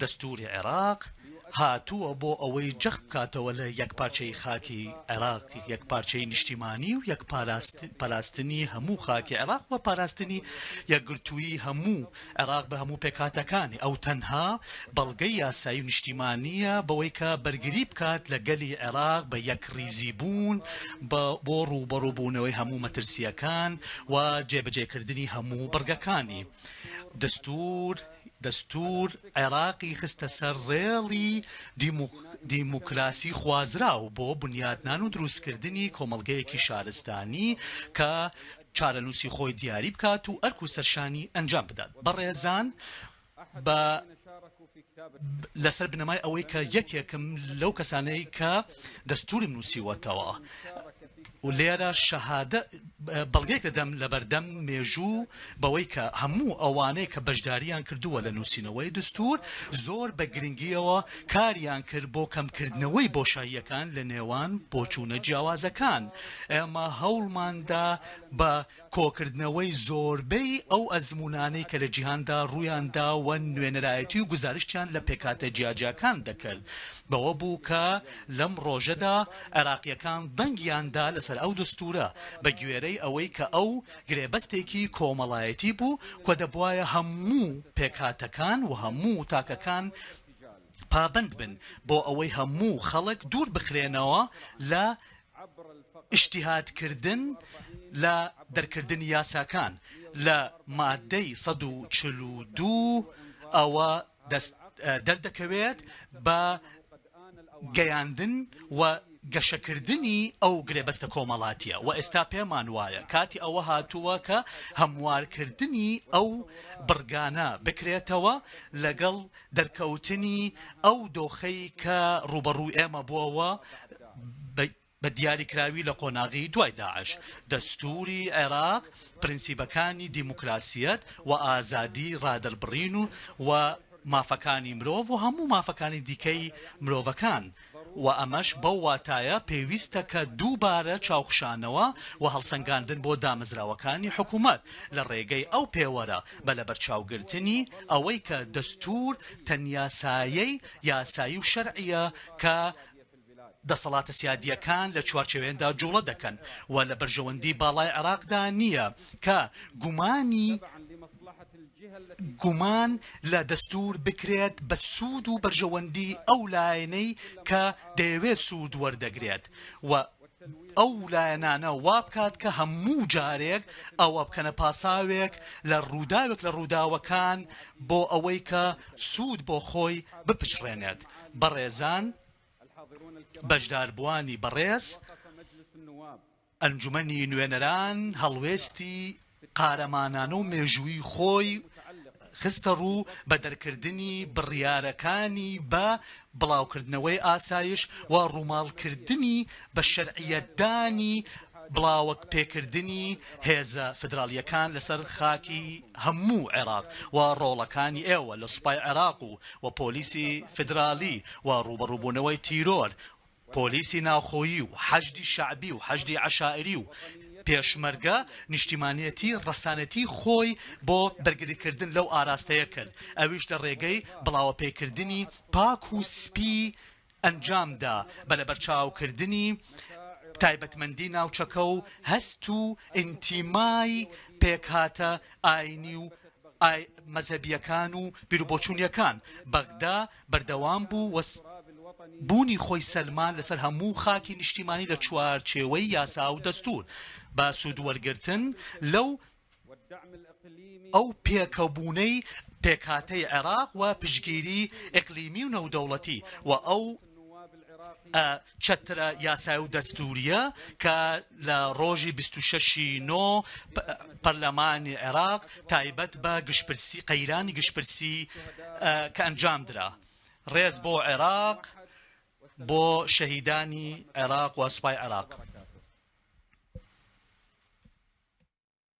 دەستووری عێراق هاتووە بۆ ئەوەی جەخت بکاتەوە لە یەکپارچەیی خاکی عێراق، یەکپارچەیی نیشتیمانی و یەک پاراستنی هەموو خاکی عێراق و پاراستنی یەکگرتوویی هەموو عێراق بە هەموو پێکهاتەکانی. ئەو تەنها بەڵگەی یاسایی و نیشتیمانییە بەوەی کە بەرگری بکات لە گەلی عێراق بە یەکڕیزیبوون بۆ ڕووبەڕووبوونەوەی هەموو مەترسییەکان و جێبەجێکردنی هەموو بڕگەکانی دەستوور. دەستوور عێراقی خستە سەر ڕێڵی دیموکراسی خوازراو بۆ بنیاتنان و دروستکردنی کۆمەڵگەیەکی شارستانی کە چارەنووسی خۆی دیاری بکات و ئەرک و سەرشانی ئەنجام بدات بەڕێزان بە لەسەر بنەمای ئەوەی کە یەکێکم لەو کەسانەی کە دەستوری نووسیوەتەوە لێرە شەهادە بەڵگەیەک دەدەم لەبەردەم مێژوو بەوەی کە هەموو ئەوانەی کە بەشداریان کردووە لە نووسینەوەی دەستوور زۆر بە گرنگییەوە کاریان کرد بۆ کەمکردنەوەی بۆشاییەکان لە نێوان بۆچوونە جیاوازەکان. ئێمە هەوڵماندا بە کۆکردنەوەی زۆربەی ئەو ئەزموونانەی کە لە جیهاندا ڕوویان داوە نوێنەرایەتی و گوزارشتیان لە پێکهاتە جیاجیاکان دەکرد بەوە بوو کە لەم ڕۆژەدا عێراقییەکان دەنگیان دا لەسەر ئەو دەستوورە بە گوێرەی ئەوەی کە ئەو گرێبەستێکی کۆمەڵایەتی بوو کە دەبوایە هەموو پێکهاتەکان و هەموو تاکەکان پابەند بن بۆ ئەوەی هەموو خەڵک دوور بخرێنەوە لە ئیجتیهادکردن لە دەرکردنی یاساکان لە ماددەی سەد و چل و دوو ەوە دەست دەردەکەوێت بە گەیاندن و گەشەکردنی ئەو گرێبەستە کۆمەڵاتیە وە ئێستا پێمان وایە کاتی ئەوە هاتووە کە هەموارکردنی ئەو بڕگانە بکرێتەوە لەگەڵ دەرکەوتنی ئەو دۆخەی کە ڕوبەڕوو ئێمە بۆەوە بە دیاریکراوی لە قۆناغی دوای داعش، دەستووری عێراق پرنسیبەکانی دیموکراسیەت و ئازادی ڕادەربڕین و و مافەکانی مرۆڤ و هەموو مافەکانی دیکەی مرۆڤەکان و ئەمەش بەو واتایە پێویستە کە دووبارە چاوخشانەوە و هەڵسەنگاندن بۆ دامەزراوەکانی حکوومەت لە ڕێگەی ئەو پێوەرە بە لەبەرچاوگرتنی ئەوەی کە دەستوور تەنیا سایەی یاسایی و شەرعییە کە دەسەڵاتە سیادییەکان لە چوارچێوێندا جوڵە دەکەن و لە بەرژەوەندی باڵای عێراقدا نییە کە گومانی گومان لە دەستوور بکرێت بە سوود و بەرژەوەندی ئەو لایەنەی کە دەیەوێت سوود وەردەگرێت و ئەو لایەنانە وا بکات کە هەموو جارێک ئەوە بکەنە پاساوێک لە ڕووداوێک لە ڕووداوەکان بۆ ئەوەی کە سوود بۆ خۆی بپچڕێنێت. بەڕێزان بەشداربووانی بەڕێز، ئەنجومەنی نوێنەران هەڵوێستی قارەمانانە و مێژوویی خۆی خستە ڕوو بە دەرکردنی بڕیارەکانی بە بڵاوکردنەوەی ئاسایش و ڕووماڵکردنی بە شەرعیەتدانی بڵاوەپێکردنی هێزە فیدراڵییەکان لەسەر خاکی هەموو عێراق و ڕۆڵەکانی ئێوە لە سوپای عێراق و و پۆلیسی فیدراڵی و ڕووبەڕووبوونەوەی تیرۆر پۆلیسی ناوخۆیی و حەشدی شەعبی و حەشدی عەشائری و پێشمەرگە نیشتیمانیەتی ڕەسانەتی خۆی بۆ بەرگریکردن لەو ئاراستەیە کرد ئەویش لە ڕێگەی بڵاوەپێکردنی پاک و سپی ئەنجامدا بە لەبەرچاوکردنی تایبەتمەندی ناوچەکە و هەست و ئینتیمای پێکهاتە ئاینی و مەزهەبیەکان و بیروبۆچونیەکان بەغدا بەردەوام بوو و بوونی خۆی سەلماند لەسەر هەموو خاکی نیشتیمانی لە چوارچێوەی یاسا و دەستوور بە سوود وەرگرتن لەو ئەو پێکەبوونەی پێکهاتەی عێراق و پشتگیری ئیقلیمی و نێودەوڵەتی و ئەو چەترە یاسای و دەستوورییە کە لە ڕۆژی بیست و شەش ی نۆ پەرلەمانی عێراق تایبەت بە گشتپرسی قەیرانی گشتپرسی کە ئەنجام درا ڕێز بۆ عێراق بۆ شەهیدانی عێراق و سوپای عێراق.